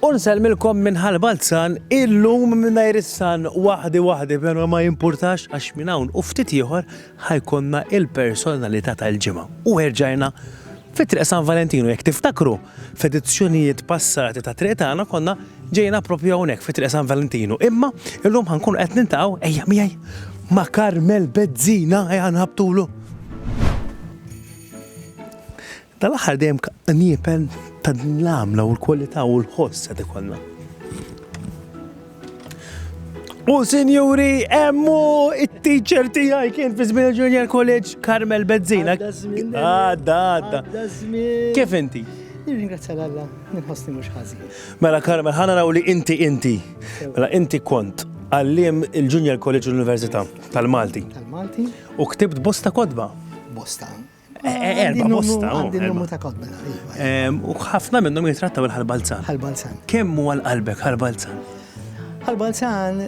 U nsellmilkom minn Ħal Balzan illum mingħajr is-San waħdi waħdi però ma jimpurtax għax minn hawn u ftit ieħor ħa jkollna il-personalità tal-ġimgħa. U erġajna fi Triq San Valentinu jekk tiftakru f'edizzjonijiet passati ta' Triq Tagħna konna ġejna propju hawnhekk fi Triq San Valentinu. Imma illum ħa nkunu qed nintaqgħu ejja miegħi ma' Karmel Bezzina ejja nħabtulu. Dal-aħħar dejjem qniepen ta' din l-għamla u l-kwalità u l-ħoss qed ikollna. U sinjuri, emmu it-teacher tijaj kien fi żmien Junior College Carmel Bezzina. Għadda, għadda. Kif inti? Nirringrazzja l-Alla, nħossni mhux ħażi. Mela Carmel, ħana raw li inti inti. Mela inti kont għallim il-Junior College Università tal-Malti. Tal-Malti. U ktibt bosta kodba. Bosta. Erba bosta. Għandin numru ta' kotba. U ħafna minnhom jitrattaw il-ħalbalzan. Ħalbalzan. Kemm huwa l-qalbek ħalbalzan? Ħalbalzan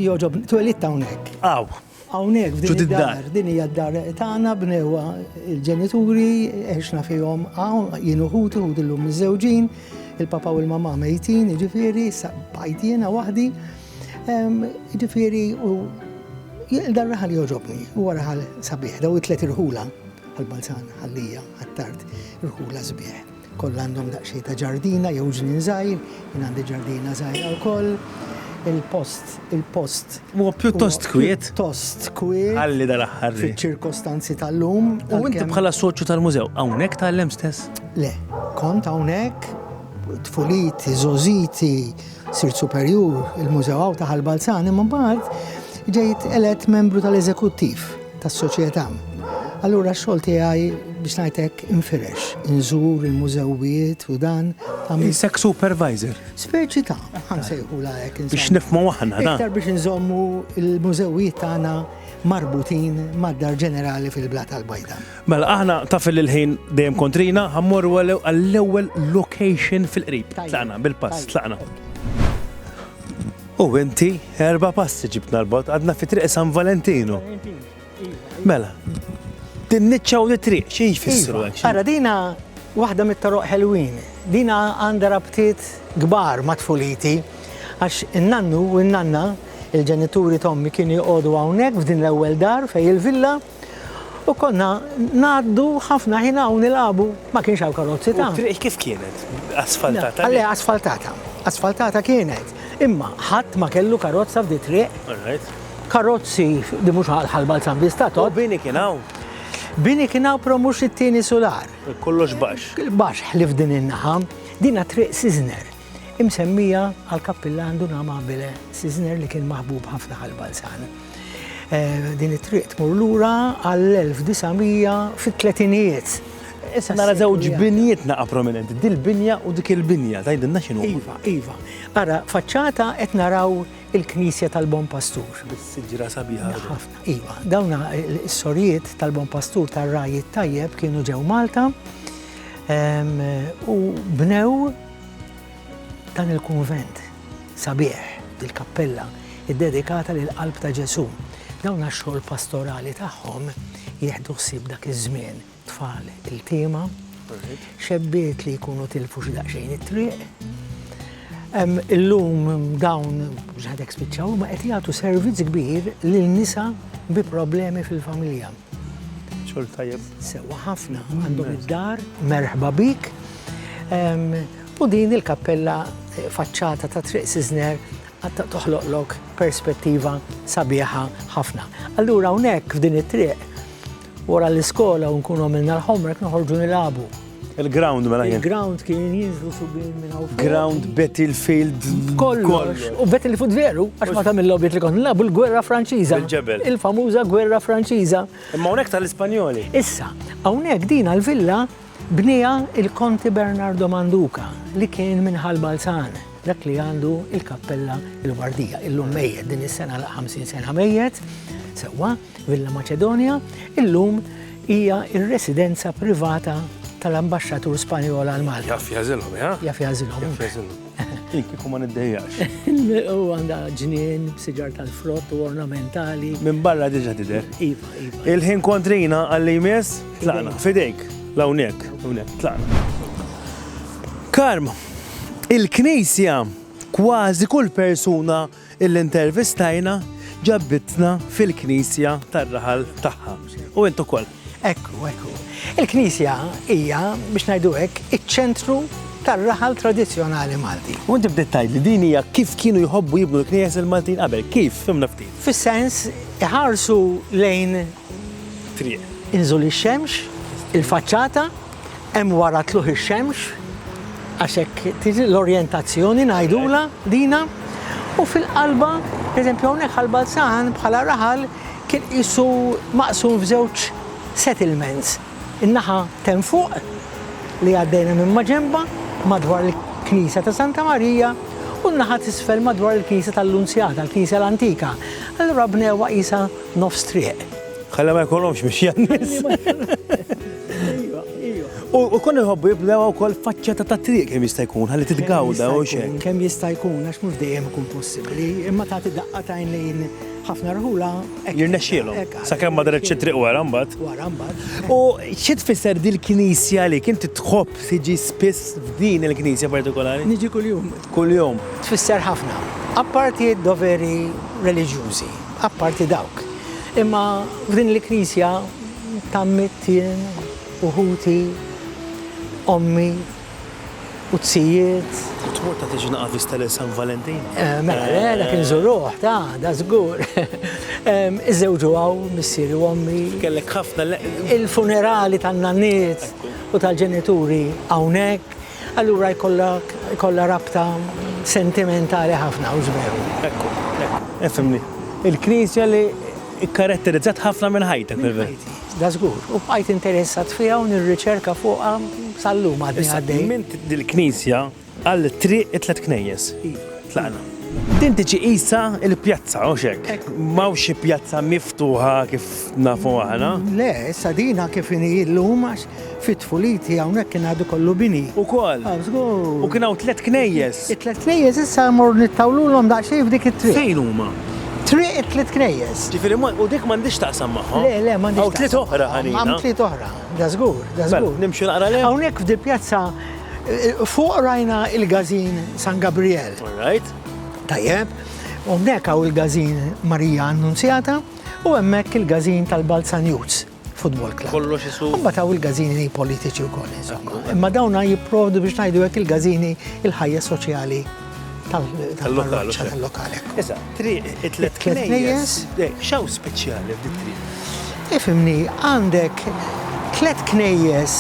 joġob twelid hawnhekk. Aw. Hawnhekk f'din id-dar, din hija d-dar tagħna bnewa il-ġenituri għexna fihom hawn jien uħutu u dillum miżewġin, il-papa u l-mama mejtin, jiġifieri bajt jiena waħdi. Ġifieri dan raħal joġobni, huwa raħal sabiħ, daw it-tliet irħula għal-Balzan, għallija, għattart, irħula sbieħ. Koll għandhom daqxie ta' ġardina jew ġnien żgħir, jien għandi ġardina żgħira wkoll. Il-post, il-post. Huwa pjuttost kwiet. Pjuttost kwiet. Għalli dal-aħħar. Fiċ-ċirkostanzi tal-lum. U inti bħala soċju tal-mużew, hawnhekk tal-lem stess? Le, kont hawnhekk tfuliti, zoziti, Sirt Superjur il-Mużew Għawdta Ħal Balzan imma mbagħad ġejt elett membru tal-eżekuttiv tas-Soċjetà. Allura x-xogħol tiegħi biex ngħid hekk infirex, inżur il-mużewijiet u dan. Insek supervisor. Speċi ta' ħansejħula hekk. Biex nifmu aħna dan. Iktar biex inżommu il-mużewijiet tagħna marbutin mad-dar ġenerali fil-Blat tal-Bajda. Mela, aħna taf li l-ħin dejjem kontrina, ħammorru għall-ewwel location fil-qrib. Tlaqna bil-pass, tlaqna. U inti erba' passi ġibt narbot għadna fi triq San Valentino. Mela, din niċċa u triq xi jfissru hekk. Ara dina waħda mit-toroq ħelwin. Dina għandha rabtiet kbar ma' tfuliti għax in-nannu u n-nanna il-ġenituri tommi kienu jgħodu hawnhekk f'din l-ewwel dar fej il-villa U konna ngħaddu ħafna ħin hawn nilagħbu, ma kienx hawn karozzi ta'. U t-triq kif kienet? Asfaltata? Le, asfaltata. Asfaltata kienet. Imma ħadd ma kellu karozza f'di triq. Karozzi di mhux ħal Balzan Vista tot. U bini kien hawn? Bini kien hawn pro mhux it-tieni sular. Kollox baxx. Baxx ħlif din in-naħa. Dina triq Sizner. Imsemmija għal kappillan Duna Amabile Sizner li kien maħbub ħafna ħal Balzan. Din it-triq tmur lura għall-1900 fit-tletinijiet. Issa nara żewġ binjiet naqa' prominenti, dil-binja u dik il-binja, tgħidilna x'inhu? Iva, iva. Ara, faċċata qed naraw il-Knisja tal-Bon Pastur. Bis-siġra sabiħa. Ħafna, iva. Dawn is-sorijiet tal-Bon Pastur tar-Raj tajjeb kienu ġew Malta ehm, u bnew dan il-kunvent. Sabiħ, il-kappella ddedikata lill-Qalb ta' Ġesù. Dawn għax-xogħol pastorali tagħhom jieħdu ħsieb dak iż-żmien, tfal iltiema, xebbiet li jkunu tilfu xi daqsxejn it-triq. Illum dawn mhux ħadek spiċċaw ma qed jagħtu servizz kbir lil nisa bi problemi fil-familja. Xogħol tajjeb. Sewwa ħafna għandhom id-dar, merħba bik. U din il-kappella faċċata ta' Triq Siżner għad toħloqlok perspettiva sabiħa ħafna. Allura hawnhekk f'din it-triq wara l-iskola u nkunu għamilna l-homework noħorġu nilagħbu. Il-ground mela jien. Il-ground kien jinżlu subin minn hawn. Ground Battlefield kollox. U Battlefield veru, għax ma tagħmel lobby li kont nilagħbu l-gwerra Franċiża. Il-ġebel. Il-famuża gwerra Franċiża. Imma hawnhekk tal-Ispanjoli. Issa, hawnhekk din għall-villa Bniha il-Konti Bernardo Manduca li kien minn Ħal Balzan, dak li għandu il-Kappella il-Wardija, illum mejjet, din is-sena għal 50 sena mejjet, sewwa, Villa Maċedonja, illum hija r-residenza privata tal-Ambaxxatur Spanjol għal Malta. Jaf jagħżilhom, eh? Jaf jagħżilhom. Jien kieku ma niddejjax. U għandha ġnien, siġar tal-frott u ornamentali. Minn barra diġa tidher. Iva, iva. Il-ħin kontrina għalli jmiss, tlaqna. Fidejk, lawnek, hawnhekk, tlaqna. Karm, il-Knisja kważi kull persuna illi ntervistajna ġabitna fil-knisja tar-raħal tagħha. U int ukoll. Hekk hu, hekk hu. Il-knisja hija, biex ngħidu hekk, iċ-ċentru tar-raħal tradizzjonali Malti. U inti bdejt tgħid li din hija kif kienu jħobbu jibnu l-knejjes il-Maltin qabel. Kif? Fhimna ftit. Fis-sens iħarsu lejn. Triq. Inżul ix-xemx, il-faċċata. hemm wara tluħ ix-xemx għax hekk tiġi l-orjentazzjoni ngħidula dina u fil-qalba, eżempju hawnhekk għal Balzan bħala raħal kien qisu maqsum f'żewġ settlements. In-naħa ten fuq li għaddejna minn maġenba madwar il-Knisja ta' Santa Marija u n-naħa t'isfel madwar il-Knisja tal-Lunzjata, l-Knisja l-antika. Allura bnewha qisha nofs triq. Ħalla ma jkollhomx biex jannis. U kon iħobbu jibdew ukoll faċċata ta' triq kemm jista' jkun ħalli titgawda u xejn. Kemm jista' jkun għax mhux dejjem ikun possibbli, imma tagħti daqqa tajn lejn ħafna rħula. Jirnexxielhom. Sakemm ma daret xi triq wara mbagħad. Wara mbagħad. U xi tfisser dil-knisja li kien titħobb tiġi spiss f'din il-knisja partikolari? Niġi kuljum. Kuljum. Tfisser ħafna. Apparti d-doveri reliġjużi. Apparti dawk. Imma f'din il-Knisja tgħammidt jien u ħuti, ommi u t-sijiet. U tmur tagħti xi naqqa vista lil San Valentin? Mela le, dak inżuruh, ta, da żgur. Iżżewġu hawn missieri u ommi. Kellek ħafna. Il-funerali tan-nanniet u tal-ġenituri hawnhekk. Allura jkollok, jkollha rabta sentimentali ħafna hux veru? Ekku, ekku. Efhimni. Il-Knisja li kkaratterizzat ħafna minn ħajtek, fil-. Minn ħajti. Da żgur. U bqajt interessat fiha u nirriċerka fuqha sal-lum għadni għaddej. Issa, minn dil-Knisja għal triq it-tliet knejjes. Iva. Tlaqna. Din tiġi qisha l-pjazza, hux hekk? Hekk. M'hawnx xi pjazza miftuħa kif nafu aħna. Le, issa din ha kif inhi llum għax fit-tfuliti hawnhekk kien għadu kollu bini. Ukoll. Ah, żgur. U kien hawn tliet knejjes. It-tliet knejjes issa mmorru nittawlulhom daqsxejn f'dik it-triq. Fejn huma? Triq it-tliet knejjes. Ġifieri ma, u dik m'għandhiex taqsam magħhom? Le, le, m'għandhiex. Hawn tliet oħra ħanina. Hawn tliet oħra, dażgur, dażgur. Mela, nimxu naqra lejhom? Hawnhekk f'dil-pjazza Fuq rajna il-gazin San Gabriel. Alright. Tajjeb. U mnek għaw il-gazin Marija Annunzjata u hemmhekk il-gazin tal-Balzan Youths Football Club. Kollu xisu. Imma taw il-gazini politiċi u koll, insomma. Imma dawna jipprovdu biex najdu għek il-gazini il-ħajja soċjali tal-lokal. Tal-lokal. Iżda, triq it-tlet knejjes. Xaw speċjali f'dit triq? Ifimni, għandek tlet knejjes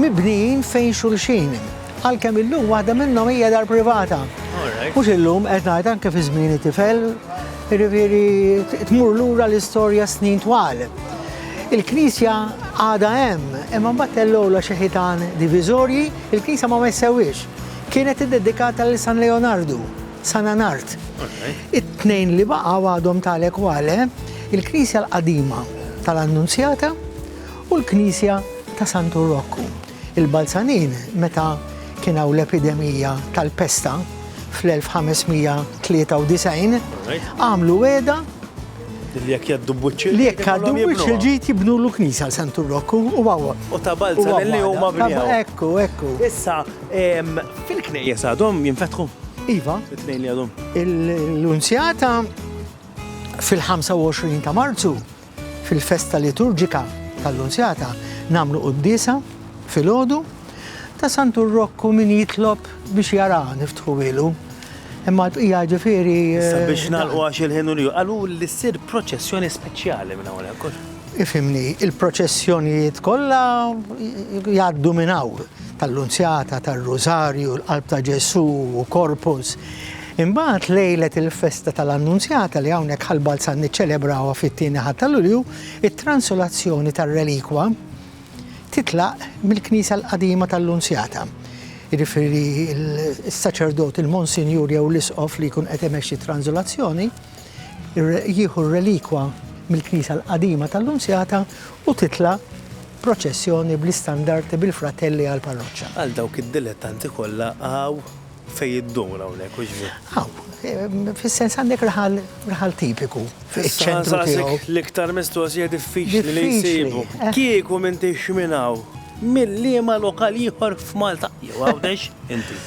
mibnijin fejn xulxin. Għalkemm illum waħda minnhom hija dar privata. Mhux illum qed ngħid anke fi żmien tifel, jiġifieri tmur lura l-istorja snin twal. Il-knisja għadha hemm, imma mbagħad tellgħu xi ħitan diviżorji, il-knisja ma messewiex. Kienet iddedikata lil San Leonardu, San Anard. It-tnejn li baqgħu għadhom Tale Quale, il-knisja l-qadima tal-Annunzjata u l-knisja ta' Santu Rokku. Il-Balzanin, meta kien hawn l-epidemija tal-pesta fl-1593, għamlu wegħda li jekk jgħaddu b'wiċċ il-ġid, li jekk jgħaddu b'wiċċ il-ġid jibnulu knisja għal Santu Rokku u hawn. U ta' Balzanin li huma bnew. Ekku, ekku. Issa, Fil-knejjes għadhom jinfetħu? Iva. It-tnejn li għadhom. L-unzjata fil-25 ta' Marzu fil-festa liturġika tal-unzjata namlu qoddisa fil-ħodu ta' Santur Rokku min jitlob biex jara niftħu ilu. Imma l-bqija ġifiri. Eh, biex nalqu għax il-ħinu li għalu li s-sir proċessjoni speċjali minn għawna. Ifimni, il-proċessjonijiet kollha jgħaddu minn hawn. tal-Lunzjata, tar-Rużarju, l-Qalb ta' Ġesù u Corpus. Imbagħad lejlet il-festa tal-Annunzjata li hawnhekk Ħal Balzan niċċelebrawha fit-Tieni Ħadd ta' Lulju, it-transulazzjoni tar-relikwa titlaq mill-Knisja l-Qadima tal-Lunzjata. Jiġifieri s-saċerdot, il-Monsinjur jew l-Isqof li jkun qed imexxi t-transulazzjoni jieħu r-relikwa mill-Knisja l-Qadima tal-Lunzjata u titla' Proċessjoni bl-istandarti bil-fratelli għall-parroċċa. Għal dawk id-dilettanti kollha hawn fejn iddur hawnhekk, hux veri? Hawn. Fis-sens għandek raħal, raħal tipiku fiċ-ċentru tiegħu. L-iktar mistoqsija diffiċli li nsibu. Kieku m'intix minn hawn, minn liema lokal ieħor f'Malta jew Għawdex inti?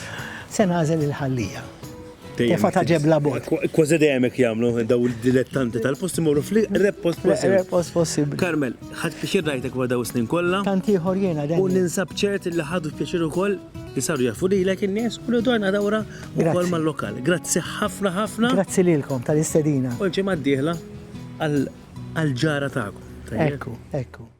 Se nagħżel il-Ħal-Lija. Tefa ta' ġebla bot. Kważi dejjem hekk jagħmlu daw il-dilettanti tal-post imorru fl-iqreb post possibbli. Post possibbli. Karmel, ħadd pixir rajtek wara daw snin kollha. Tant ieħor jiena dejjem. U ninsab ċert li ħadu pixir ukoll li saru jafu lilek in-nies u li dwarna dawra ukoll mal-lokal. Grazzi ħafna ħafna. Grazzi lilkom tal-istedina. U l-ġimgħa d-dieħla għal-ġara tagħkom. Ekku, ekku.